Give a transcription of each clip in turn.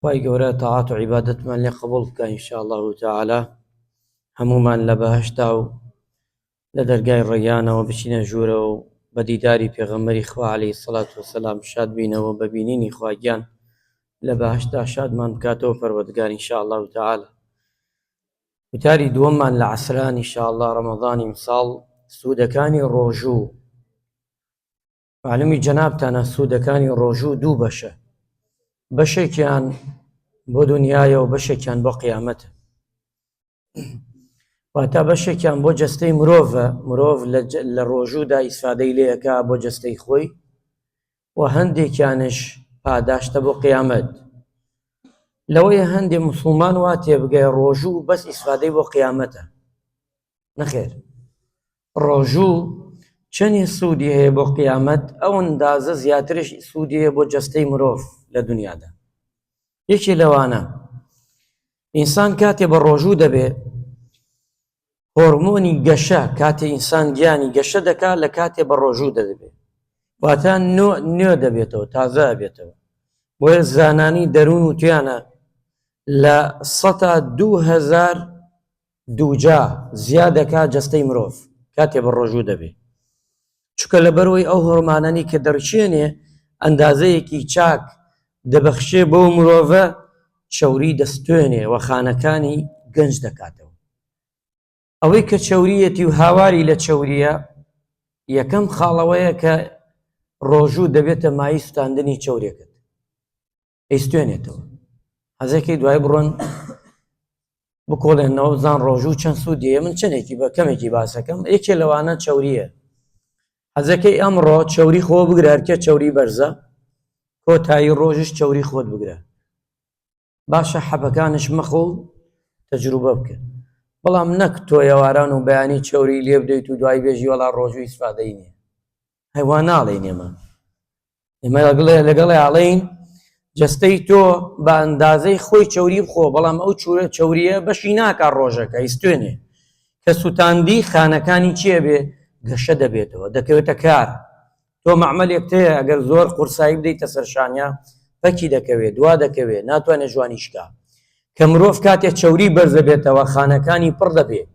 خوای گەورە تاعات و عیبادەتمان لێ قبوڵ بکا ان شاء الله تعالی هەموومان لە بەهەشتا و لە دەرگای ڕەیانەوە بچینە ژوورەوە و بە دیداری پێغەمبەری خوا عەلەیهی سەڵات وەسەلام شاد بینەوە بە بینینی خوا گیان لە بەهەشتا شادمان بکاتەوە پەروەردگار ان شاء الله تعالی وتاری دووەممان لە عەسران ان شاء الله ڕەمەضانی ئیمساڵ سوودەکانی ڕۆژوو معلومی جەنابتانە سوودەکانی ڕۆژوو دوو بەشە بەشێکیان بۆ دنیاە و بەشێکیان بۆ قیامەتە واتا بەشێکیان بۆ جستەی مرۆڤە مرۆڤ لە ڕۆژوودا ئیسفادەی لەکە بۆ جستەی خۆی و هەندێکیانش پاداشتە بۆ قیامەت لەوەی هەندێ مسلمان وا تێبگەی ڕۆژوو بەس ئیسفادەی بۆ قیامەتە نەخێر ڕۆژو چەنی سودی هەیە بۆ قیامەت ئەو ئەندازە زیاترش سودی هەیە بۆ جەستەی مرۆڤ لە دونیادا یەکێ لەوانە ئینسان کاتێ بە ڕۆژو دەبێ هۆرمۆنی گەشە کاتێ ئینسان گیانی گەشە دەکا لە کاتێ بە ڕۆژو دەدەبێ واتە نۆ نوێ دەبێتەوە تازە بێتەوە بۆیە زانانی دەروون و تویانە لە سەتا دوهزار دووجا زیا دەکا جەستەی مرۆڤ کاتێ بەڕۆژوو دەبێ چونکە لەبەرەوەی ئەو هۆرمانانی کە دەڕشێنێ ئەندازەیەکی چاک دەبەخشێ بۆ مرۆڤە چەوری دەستێنێ و خانەکانی گەنج دەکاتەوە ئەوەی کە چەوریەتی و هاواری لە چەوریە یەکەم خاڵەوەیە کە ڕۆژوو دەبێتە مای سوتاندنی چەورێکت ئەیستێنێتەوە حەزەکەی دوای بڕۆن بکۆڵێنەوە بزان ڕۆژوو چەند سوودیە من چەندێکی بە کەمێکی باسەکەم یەکێ لەوانە چوریە حەزەکەی ئەمڕۆ چوری خۆ بگرارکە چوری بەرزە کۆتایی ڕۆژش چوری خۆت بگرە باشە حەبەکانش مەخۆ و تەجروبە بکە بەڵام نەک تۆیەواران و بەیانی چوری لێ بدەیت و دوای بێژی وەڵا ڕۆژوی سفادەی نیە هەیوا ناڵێ نێمە ئێمە لەگڵێ لەگەڵێ ئاڵین جستەی تۆ بە ئەندازەی خۆی چوری بخۆ بەڵام ئەو چورە چوریە بەشی ناکە ڕۆژەکە ئیسێنێ کە سووتاندی خانەکانی چێ بێ گەشە دەبێتەوە دەکەوێتە کار تۆ معمەلێک تەیە ئەگەر زۆر قورسایی بدەیتە سەرشانیا پەکی دەکەوێت دوا دەکەوێت ناتوانێت جوانیشکە کە مرۆڤ کاتێ چوری بەرزەبێتەوە خانەکانی پڕ دەبێت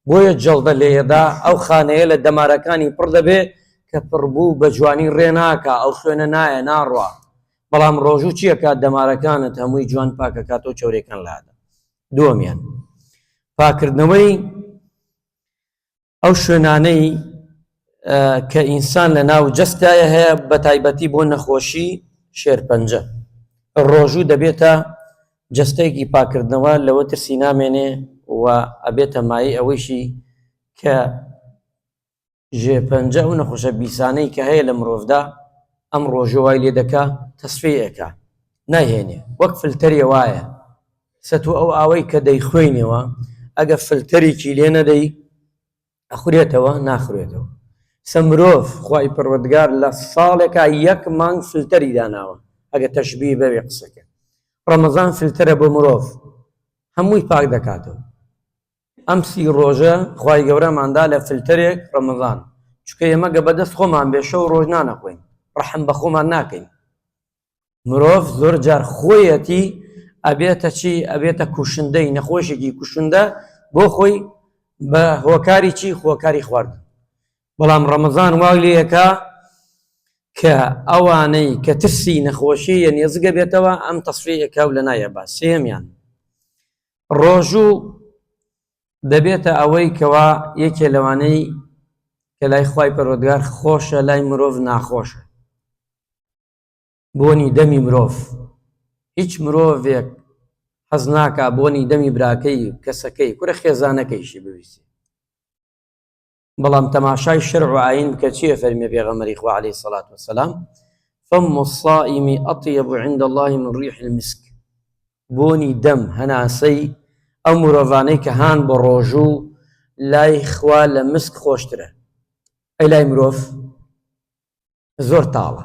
بۆیە جەڵدە لێیەدا ئەو خانەیە لە دەمارەکانی پڕ دەبێ کە پڕبوو بە جوانی ڕێ ناکا ئەو خوێنە نایە ناڕوا بەڵام ڕۆژوو چی ئەکات دەمارەکانت هەمووی جوان پاک ئەکاتەوە چەورێکان لادا دووەمیان پاکردنەوەی ئەو شوێنانەی کە ئینسان لە ناو جەستایە هەیە بە تایبەتی بۆ نەخۆشی شێرپەنجە ڕۆژوو دەبێتە جستەیەکی پاکردنەوە لەوە ترسی نامێنێ و ئەبێتە مای ئەوەیشی کە ژێپەنجە و نەخۆشە بیسانەی کە هەیە لە مرۆڤدا ئەم ڕۆژەوای لێ دەکا تەسفەیەکە ناهێنێ وەک فلتەرێ وایە سەتو ئەو ئاوەی کە دەیخوێنەوە ئەگە فلتەرێکی لێ نەدەی ئەخورێتەوە ناخورێتەوە سە مرۆڤ خوای پەروەردگار لە ساڵێکا یەک مانگ فلتەری داناوە ئەگە تەشبیه بەوێ قسەکە ڕەمەزان فلتەرە بۆ مرۆڤ هەمووی پاک دەکاتەوە ئەم سی ڕۆژە خوای گەورەماندا لە فلتەرێک ڕەمەزان چکە ئێمە گە بەدەست خۆمان بێ شەو ڕۆژ نانەخۆین ڕەحم بە خۆمان ناکەین مرۆڤ زۆر جار خۆیەتی ئەبێتە چی ئەبێتە کوشندەی نەخۆشێکی کوشندە بۆ خۆی بە هۆکاری چی خۆکاری خوارد بەڵام ڕەمەزان واو لەکە کە ئەوانەی کە ترسی نەخۆشی یە نێزگە بێتەوە ئەم تەسفەیەکە و لە نایە با سێمیان ڕۆژوو دەبێتە ئەوەی کەوا یەکێ لەوانەی کە لای خی پەرۆدگار خۆشە لای مرۆڤ ناخۆشە بۆنی دەمی مرۆڤ، هیچ مرۆڤێک حەز ناکا بۆنی دەمی براکەی، کەسەکەی، کورە خێزانەکەیشی بویسێ. بەڵام تەماشای شەرع و ئایین بکە چی ئەفەرمێ پێغەمبەری خوا عەلەیهی سەڵات وەسەلام، فم الصائم اطیب عند اللە من ریح المسک، بۆنی دەم، هەناسەی، ئەو مرۆڤانەی کە هان بە ڕۆژوو لای خوا لە مسک خۆشترە. ئەی لای مرۆڤ؟ زۆر تاڵە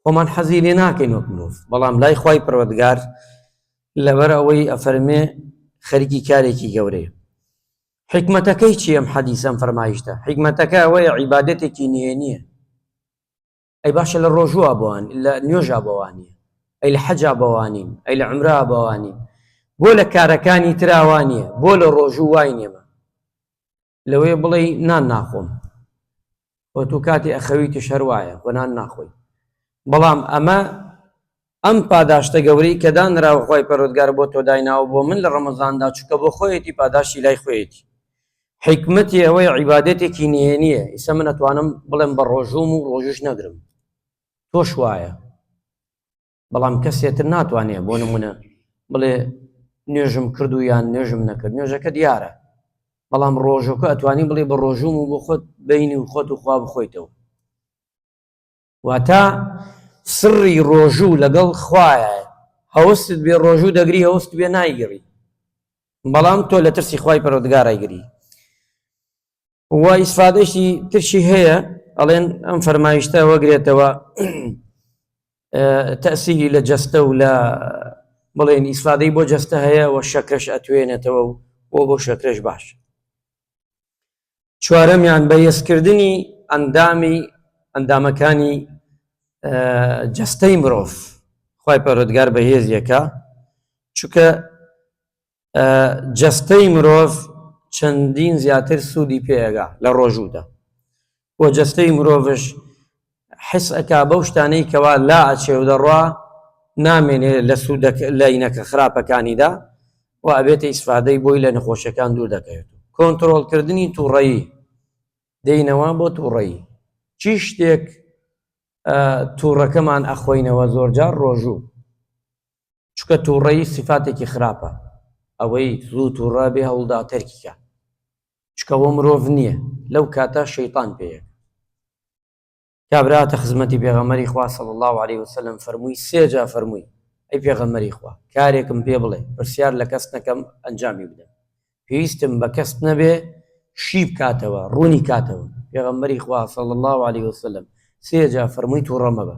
خۆمان حەزی لێ ناکەین وەک مرۆڤ بەڵام لای خی پەروەگار لەبەر ئەوەی ئەفەرمێ خەرکی کارێکی گەورەیە حکمەتەکەی چی ئەم حەدیسەم فەرمایشتە حکمەتەکە ئەوەیە عیباەتێکی نهێنیە ئەی باشە لە ڕۆژوە بۆوان لە نوێژا بەوانە ئەی لە حەجا بەوانین ئەی لە عمرا بەوانین بۆ لە کارەکانی تراوانە بۆ لە ڕۆژوو وای نێمە لەوەیە بڵێی نان ناخۆم و تو کاتی ئەخەویتیش هەر وایە و نان ناخۆی بەڵام ئەمە ئەم پاداشتە گەورەی کە دانراوە خۆی پەرۆتگار بۆ تۆ دایناوە بۆ من لە ڕەمەزاندا چکە بۆ خۆیەتی پاداشتی لای خۆیەتی حیکمەتی ئەوەی عیبادێتێکی نهێنیە ئیسە من ئەتوانم بڵێم بە ڕۆژوم و ڕۆژش نەگرم تۆش وایە بەڵام کەسێتر ناتوانێت بۆ نمونە بڵێ نوێژم کرد و یان نوێژم نەکرد نوێژەکە دیارە بەڵام ڕۆژەکە ئەتوانی بڵێ بە ڕۆژوم و بۆ خۆت بینی و خۆت و خوا بخۆیتەوە واتە سڕی ڕۆژوو لەگەڵ خوایە هەوست بێ ڕۆژوو دەگری هەوست بێ نایگەڕی بەڵام تۆ لە ترسی خی پەرۆدگارایگری و ئیسفادەشی ترشی هەیە ئەڵێن ئەم فەرمایشتە وەگرێتەوە تەسیری لە جەستە و لە بڵێن ئیسفادەی بۆ جەستە هەیە و شەکرەش ئەتوێنێتەوە و بۆ بۆ شەکرەش باش چوارەمیان بە یەسکردنی ئەندامی ئەندامەکانی جەستەی مرۆڤ خی پەرۆدگار بە هێزیەکە چونکە جەستەی مرۆڤ چەندین زیاتر سوودی پێگا لە ڕۆژوودا و جەستەی مرۆڤش حس ئەکا بەو شتانەی کەوا لا ئەچێ و دەڕوا نامێنێ لە سوود لەینەکە خراپەکانیدا و ئەبێتە ئیسفادەی بۆی لە نەخۆشیەکان دوور دەکەوێت کۆنتترۆلکردنی تووڕەیی دێینەوە بۆ تووڕەیی چی شتێک تووڕەکەمان ئەخۆینەوە زۆرجار ڕۆژوو چونکە توڕەیی سیفاتێکی خراپە ئەوەی زوو توڕە بێ هەوڵدا تەرکیکە چکەوە مرۆڤ نییە لەو کاتە شەیتان پێیە کابراتە خزمەتی پێغەمەری خوا صلی الله عليه وسلم فەرمووی سێجا فەرمووی ئەی پێغەمەری خوا کارێکم پێ بڵێ پرسیار لە کەس نەکەم ئەنجامی بدەم پێویستم بە کەس نەبێ شی بکاتەوە ڕوونی کاتەوە پێغەمبەری خوا صلی الله عليه وسلم سێجا فەرمووی تووڕە مەبە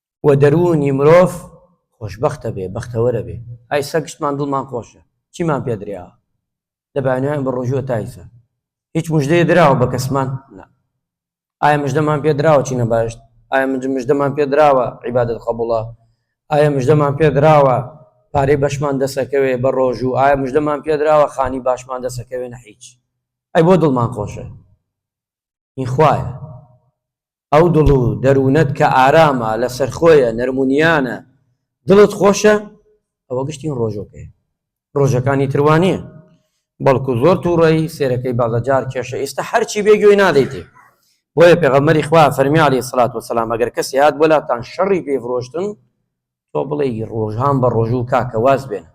و دەروونی مرۆڤ خۆشبەختە بێ بەختەوەرە بێ ئای سەگشتمان دڵمان خۆشە چیمان پێ درێا لە بانوێن بە ڕۆژووە تایسە هیچ مژدەیە دراوە بە کەسمان نا ئایا مژدەمان پێ دراوە چینە باشت ئایا من مژدەمان پێ دراوە عیبادت قبوڵە ئایا مژدەمان پێ دراوە پارەی بەشمان دەسەکەوێ بە ڕۆژوو ئایا مژدەمان پێ دراوە خانی باشمان دەسەکەوێنە هیچ ئەی بۆ دڵمان خۆشە این خوایە ئەو دڵ و دەروونەت کە ئارامە، لەسەرخۆیە، نەرمونیانە، دڵت خۆشە، ئەوە گشتین ڕۆژۆکەیە. ڕۆژەکانی تر وا نییە. بەڵکو زۆر توڕەی سێرەکەی بەڵگە جار کێشە ئیستە هەرچی بێ گوێی نادەیتێ. بۆیە پێغەمبەری خوا فەرمی علیە سڵات وسلام ئەگەر کەسی هات بۆ لاتان شەڕی پێ فرۆشتن تۆ بڵێی ڕۆژان بە ڕۆژوو کاکە واز بێنە.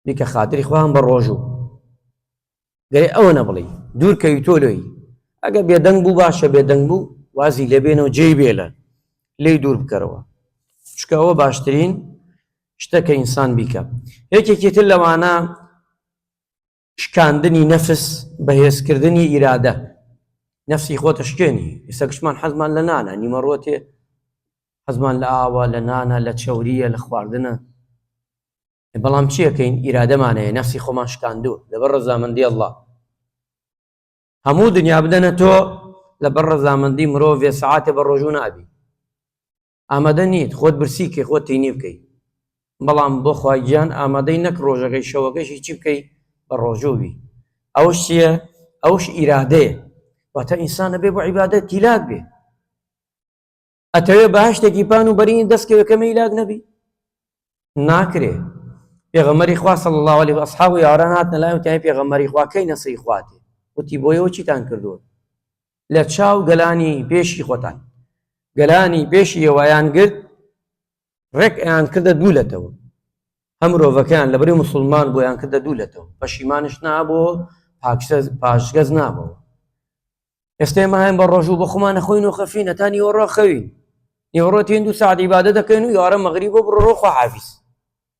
بیکە خاتری خۆیان بە ڕۆژوو گەێ ئەوە نەبڵی دوور کەوی تۆ لۆی ئەگە بێدەنگ بوو باشە بێدەنگ بوو وازی لێبێنەوە جێ بێلە لی دوور بکەرەوە چکەوە باشترین شتەکە ئینسان بیکە یەکێکی تر لەوانە شکاندنی نەفس بەهێزکردنی ئیرادە نفسی خۆتە شکێنی ئێستا گشتمان حەزمان لە نانە نیمەڕۆتێ حەزمان لە ئاوە لە نانە لە چەوریە لە خواردنە بەڵام چیەکەین ئیرادەمان هەیە نەفسی خۆمان شکاندوو لەبەر ڕزامەندی ئەڵڵا هەموو دنیا بدەنە تۆ لەبەر ڕزامەندی مرۆڤێ سعاتێ بە ڕۆژوو نابی ئامادە نیت خۆت برسی کە خۆت تینی بکەیت بەڵام بۆ خواگیان ئامادەی نەک ڕۆژەکەی شەوەکەشی چی بکەی بە ڕۆژووی ئەوش چییە ئەوش ئیرادەیە واتە ئینسانە بێ بۆ عیبادە تیلاک بێ ئەتەوێ بەهشتێکی پان و بەرینی دەستکەوێ کە مەیلاک نەبی ناکرێ پێغەمەری خوا صلی الله عليه وأصحاب و یاران هاتنە لای وتیان پێغەمەری خوا کەی نەسری خواتێ وتی بۆیەوە چیتان کردووە لە چاو گەلانی پێشی خۆتان گەلانی پێشی یەوەیان گرت ڕێک ئەیان کردە دوو لەتەوە هەم مرۆڤەکەیان لەبری مسلمان بۆیان کردە دوو لەتەوە پەشیمانش نابۆ پاشگەز نابەوە ئێستێ ماهێن بە ڕۆژوو بە خۆمان نەخۆین و خەفی نەتانی وەڕۆ خەوین نێوەڕۆ تێن دوو سعدی بادە دەکەین و یارە مەغری بۆ بڕۆ خواحافیز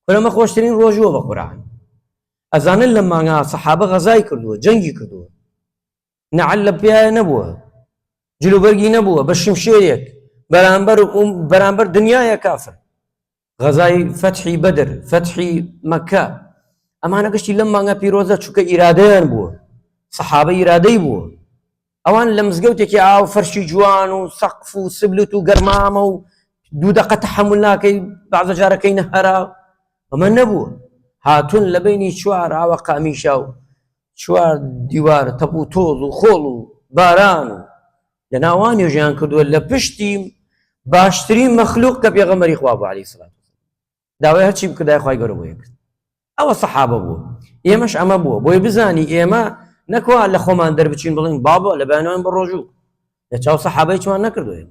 فرەمە خۆشترین ڕۆژووە بە قوران ئەزانن لە مانگا سەحابە غەزای کردووە جەنگی کردووە نەعل لە پیاە نەبووە جلوبەرگی نەبووە بە شمشێرێک بەرامبەر بەرامبەر دنیاە کافر غەزای فەتحی بەدر فەتحی مەکە ئەمانە گشتی لەم مانگە پیرۆزە چووکە ئیرادەیان بووە سەحابە ئیرادەی بووە ئەوان لە مزگەوتێکی ئاو فەرشی جوان و سەقف و سبلت و گەرمامە و دوو دەقە تەحمل ناکەی بازە جارەکەی نەهرا ئەمە نەبوو هاتون لە بینی چوار ئاوە قامیشا و چوار دیوار تەپ و تۆز و خۆڵ و باران و لە ناوا نوێژیان کردووە لە پشتی باشترین مەخلوق کە پێغەمەری خوا بوو علی سلات داوای هەرچی بکردای خی گەرە بۆیە کرد ئەوە سەحابە بوو ئێمەش ئەمە بووە بۆی بزانی ئێمە نەکووا لە خۆمان دەربچین بڵین بابە لە بەیانوان بە ڕۆژوو لە چاو سەحابەی چوان نەکردوێن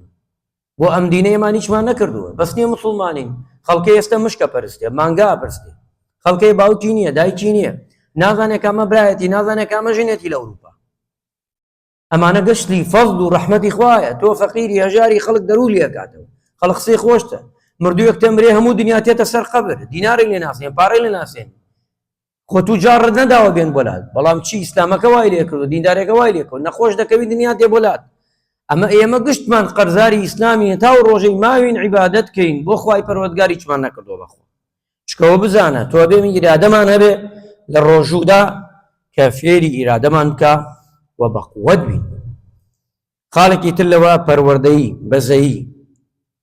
بۆ ئەم دینەیەمان هیچمان نەکردووە بەس نیە مسلمانین خەڵکە ئێستا مشکە پرستێ مانگا پرستێ خەڵکەی باوکی نییە دایکی نییە نازانێکامە برایەتی نازانێکامە ژنێتی لە ئەوروپا ئەمانە گەشتی فەضل و ڕەحمەتی خوایە تۆ فەقیری هەژاری خەڵک دەرول لێکاتەوە خەڵق قسەی خۆشتە مردووەک تەمرێ هەموو دنیا تێتە سەر قەبر دینارێک لێ ناسێن پارەی لە ناسێن خۆ تو جاڕت نەداوە بێن بۆلات بەڵام چی ئیسلامەکە وای لێ کرد و دیندارێکە وای لێ کرد نەخۆش دەکەوی دنیا دێ بۆلات ئەمە ئێمە گشتمان قەرزاری ئیسلامی تا و ڕۆژەی ماوین عیبادت کەین بۆ خی پەروەگاری چمان نەکردەوە بەخۆ چکەوە بزانە تۆ بێ من ئیرادەمان هەبێ لە ڕۆژوودا کە فێری ئیرادەمان بکە و بە قووەت بین خاڵێکی تر لەوە پەروەردەی بەزەیی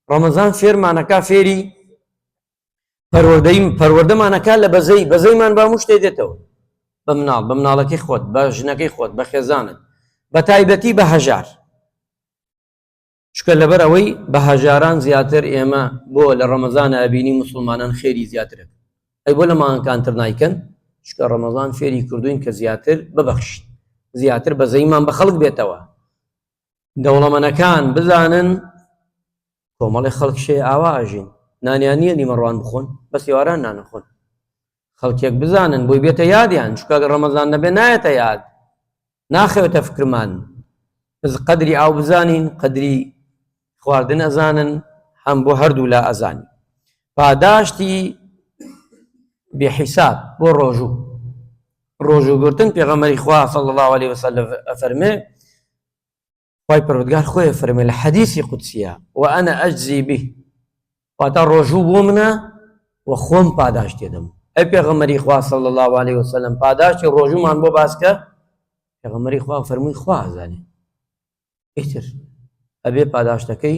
ڕەمەزان فێرمانەکە فێری پەروەردەی پەروەردەمانەکە لە بەزەی بەزەیمان با مشتێ دێتەوە بە مناڵ بە مناڵەکەی خۆت بە ژنەکەی خۆت بە خێزانت بە تایبەتی بە هەژار چکە لەبەر ئەوەی بە هەژاران زیاتر ئێمە بۆ لە ڕەمەزان ئەبینی مسلمانان خێری زیاترن ئەی بۆ لە ماهەکانتر نایکەن چکە ڕەمەزان فێری کردوین کە زیاتر ببەخشین زیاتر بە زەیمان بە خەڵک بێتەوە دەوڵەمەنەکان بزانن کۆمەڵی خەڵکشێ ئاوا ئاژین نانیان نییە نیمەڕوان بخۆن بە سێواران نانەخۆن خەڵکێک بزانن بۆی بێتە یادیان چونکە گەر ڕەمەزان نەبێ نایەتە یاد ناخەوێتە فکرمان بز قەدری ئاو بزانین قەدری خواردن ئەزانن هەم بۆ هەردوو لا ئەزانی پاداشتی بێحیساب بۆ ڕۆژوو ڕۆژوو گرتن پێغەمەری خوا صلی الله عليه وسلم ئەفەرمێ خوای پەروەردگار خۆی فەرمێ لە حەدیثی قودسیە وأنا أجزي به واتا ڕۆژوو بۆ منە و خۆم پاداش دێدەم ئەی پێغەمەری خوا صلی الله عليه وسلم پاداشتی ڕۆژومان بۆ باسکە پێغەمەری خوا فەرمووی خوازانێ ئیتر ئەبێ پاداشتەکەی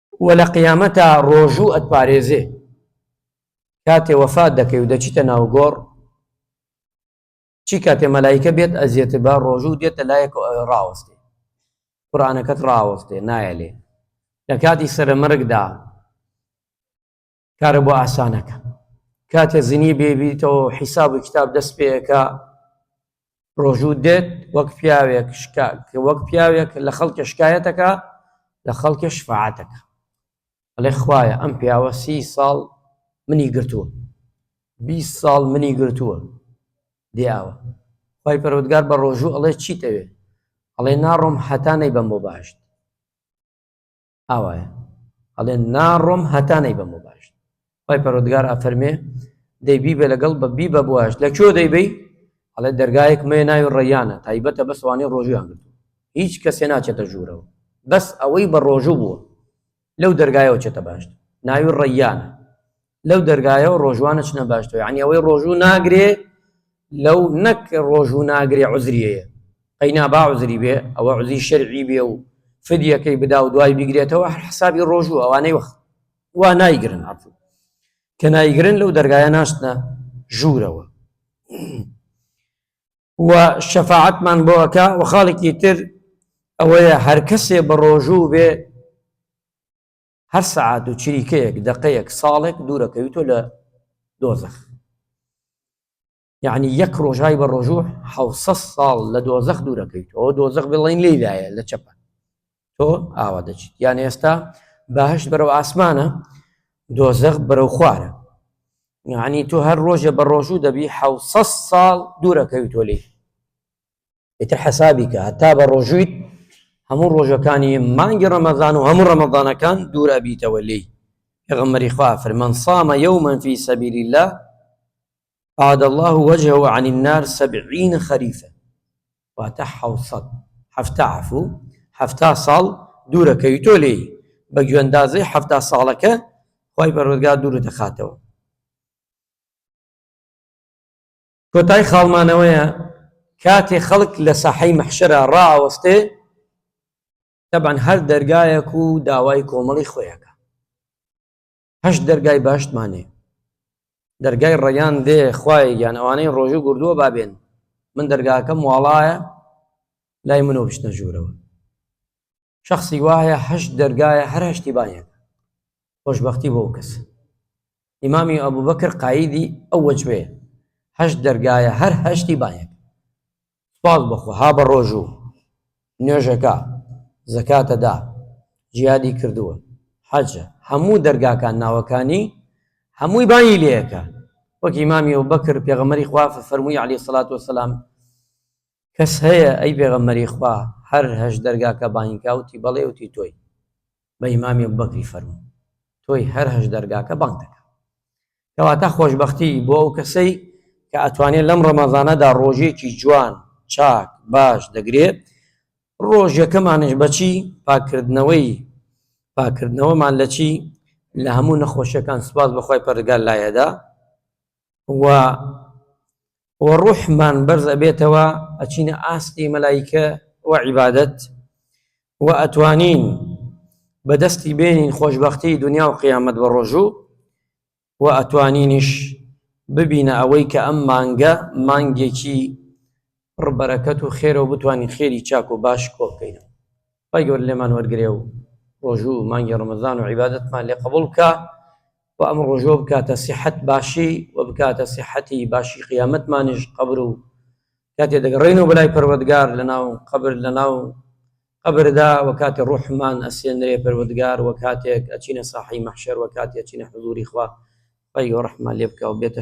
وە لە قیامەتا ڕۆژوو ئەتپارێزێ کاتێ وەفات دەکەی و دەچیتە ناو گۆڕ چی کاتێ مەلایکە بێت ئەزیێت بە ڕۆژوو دێتە لایەک ڕاوەستێ قورآانەکەت ڕاوەستێ نایە لێ لە کاتی سرە مەرگدا کارە بۆ ئاسانەکە کاتێ زنی بێبییتەوە حیساب و کتاب دەست پێەکە ڕۆژوو دێت وەک پیاوێک شکا کە وەک پیاوێک لە خەڵکە شکایەتەکە لە خەڵکە شفاعاتەکە ئەڵێ خوایە ئەم پیاوە سی ساڵ منی گرتووە بی ساڵ منی گرتووە دیاوە خی پەرۆودگار بە ڕۆژوو ئەڵێ چیتەوێ ئەڵێ ناڕۆم حەتانەی بەم بۆ باشت ئاوایە ئەڵێ ناڕۆم هەتا نەی بەمە باشت خی پەرۆدگار ئافەرمێ دەی بیبە لەگەڵ بە بی بە بواش لە کێ دەیبی ئەڵێ دەرگایەک مێ ناوی ڕێیانە تایبەتە بە سوانێ ڕۆژیان گرت هیچ کەسێ ناچێتە ژوورەوە بەس ئەوەی بە ڕۆژوو بووە لەو دەرگایەوە چێتە باشت ناوی ڕێیانە لەو دەرگایەوە ڕۆژوان نەچنە باشتەوە یعنی ئەوەی ڕۆژوو ناگرێ لەو نەک ڕۆژوو ناگرێ عزریەیە ئەینا با عزری بێ ئەوە عزی شەرعی بێ و فدیەکەی بدا و دوای بگرێتەوە حسابی ڕۆژوو ئەوانەی وەخت وا نایگرن عفو کە نایگرن لەو دەرگایە ناشتە ژوورەوە و شەفاعتمان بۆەکە و خاڵێکی تر ئەوەیە هەر کەسێ بە ڕۆژوو بێ هەر سەعات و چریکەیەک دەقەیەک ساڵێک دوورەکەویتۆ لە دۆزەخ یعنی یەک ڕۆژای بە ڕۆژوو حە ساڵ لە دۆزەخ دوورەکەیت ئەو دۆزەخ بڵین لێدایە لە چەپە تۆ ئاوا دەچیت یان ئێستا باهش بەرەو ئاسمانە دۆزەخ بەرەو خوارە یعنی تۆ هەر ڕۆژە بە ڕۆژوو دەبی حە ساڵ دوورەکەویتۆ لێ ئیتر حەسابی کە هەتا بە ڕۆژوویت هەموو ڕۆژەکانی مانگی ڕەمەزان و هەموو ڕەمەزانەکان دوور ئەبیتەوە لێی پێغەمبەری خوا فەرمووی من صام یوما فی سبیل الله عاد الله وجهه عن النار سبعین خریفە واتە حەوسەد هەفتا عفو هەفتا ساڵ دوورەکەوی تۆ لێی بە گوێندازەی هەفتا ساڵەکە خی بەڕۆزگار دوور دەخاتەوە کۆتای خاڵ مانەوەیە کاتێ خەڵک لە ساحەی مەحشەرا ڕائەوەستێ تەبعەن هەر دەرگایەک و داوای کۆمەڵی خۆیەکە هەشت دەرگای باشتمانێ دەرگای ڕێیان دێ خوای یان ئەوانەی ڕۆژوو گردووە بابێن من دەرگاکەم واڵایە لای منەوە بشتە ژوورەوە شخصی وایە هەشت دەرگایە هەر هەشتی بایەن خۆشببختی بۆ کەس ئیمامی ئەبوبەکر قایدی ئەو وەجبەیە هەشت دەرگایە هەر هەشتی بایەک سپاس بەخۆ ها بە ڕۆژوو نوێژەکە زەکاتەدا جیادی کردووە حەجە هەموو دەرگاکان ناوەکانی هەمووی بایی لەکە وەکی مامی و بەکر پێغەمەری خوافە فەرمووی علی سلات وسلام کەس هەیە ئەی پێغەمبەری خوا هەر هەشت دەرگاکە بانگی کا وتی بەڵێ وتی تۆی بە ئیمامی ئەبوبەکری فەرموو تۆی هەر هەشت دەرگاکە بانگ دەکا کەواتە خۆشببختی بۆ ئەو کەسەی کە ئەتوانێت لەم ڕەمەزانەدا ڕۆژێکی جوان چاک باش دەگرێت ڕۆژەکەمانش بەچی پاکردنەوەی پاکردنەوەمان لە چی لە هەموو نەخۆشیەکان سپاس بەخوای پەرگار لایەدا و و ڕوحمان بەرز ئەبێتەوە ئەچینە ئاستی مەلایکە و عیبادەت و ئەتوانین بەدەستی بێنین خۆشببختی دنیا و قیامەت بە ڕۆژوو و ئەتوانینیش ببینە ئەوەی کە ئەم مانگە مانگێکی پڕبەرەکەت و خێرەوە بتوانین خێری چاک و باش کۆ بکەینەوە خوای گەورە لێمان وەرگرێ و ڕۆژوو و مانگی ڕەمەزان و عیبادەتمان لێ قەبوڵ بکا و ئەم ڕۆژوە بکاتە سیحەت باشی و بکاتە سیحەتی باشی قیامەتمانیش قەبر و کاتێ دەگەڕێنەوە بەلای پەروەردگار لەناو قەبر لەناو قەبردا و کاتێ ڕوحمان ئەسێنرێ پەروەردگار و کاتێک ئەچینە ساحەی مەحشەر و کاتێ ئەچینە حزوری خوا خوای گەوە ڕەحممان لێ بکا و بێتە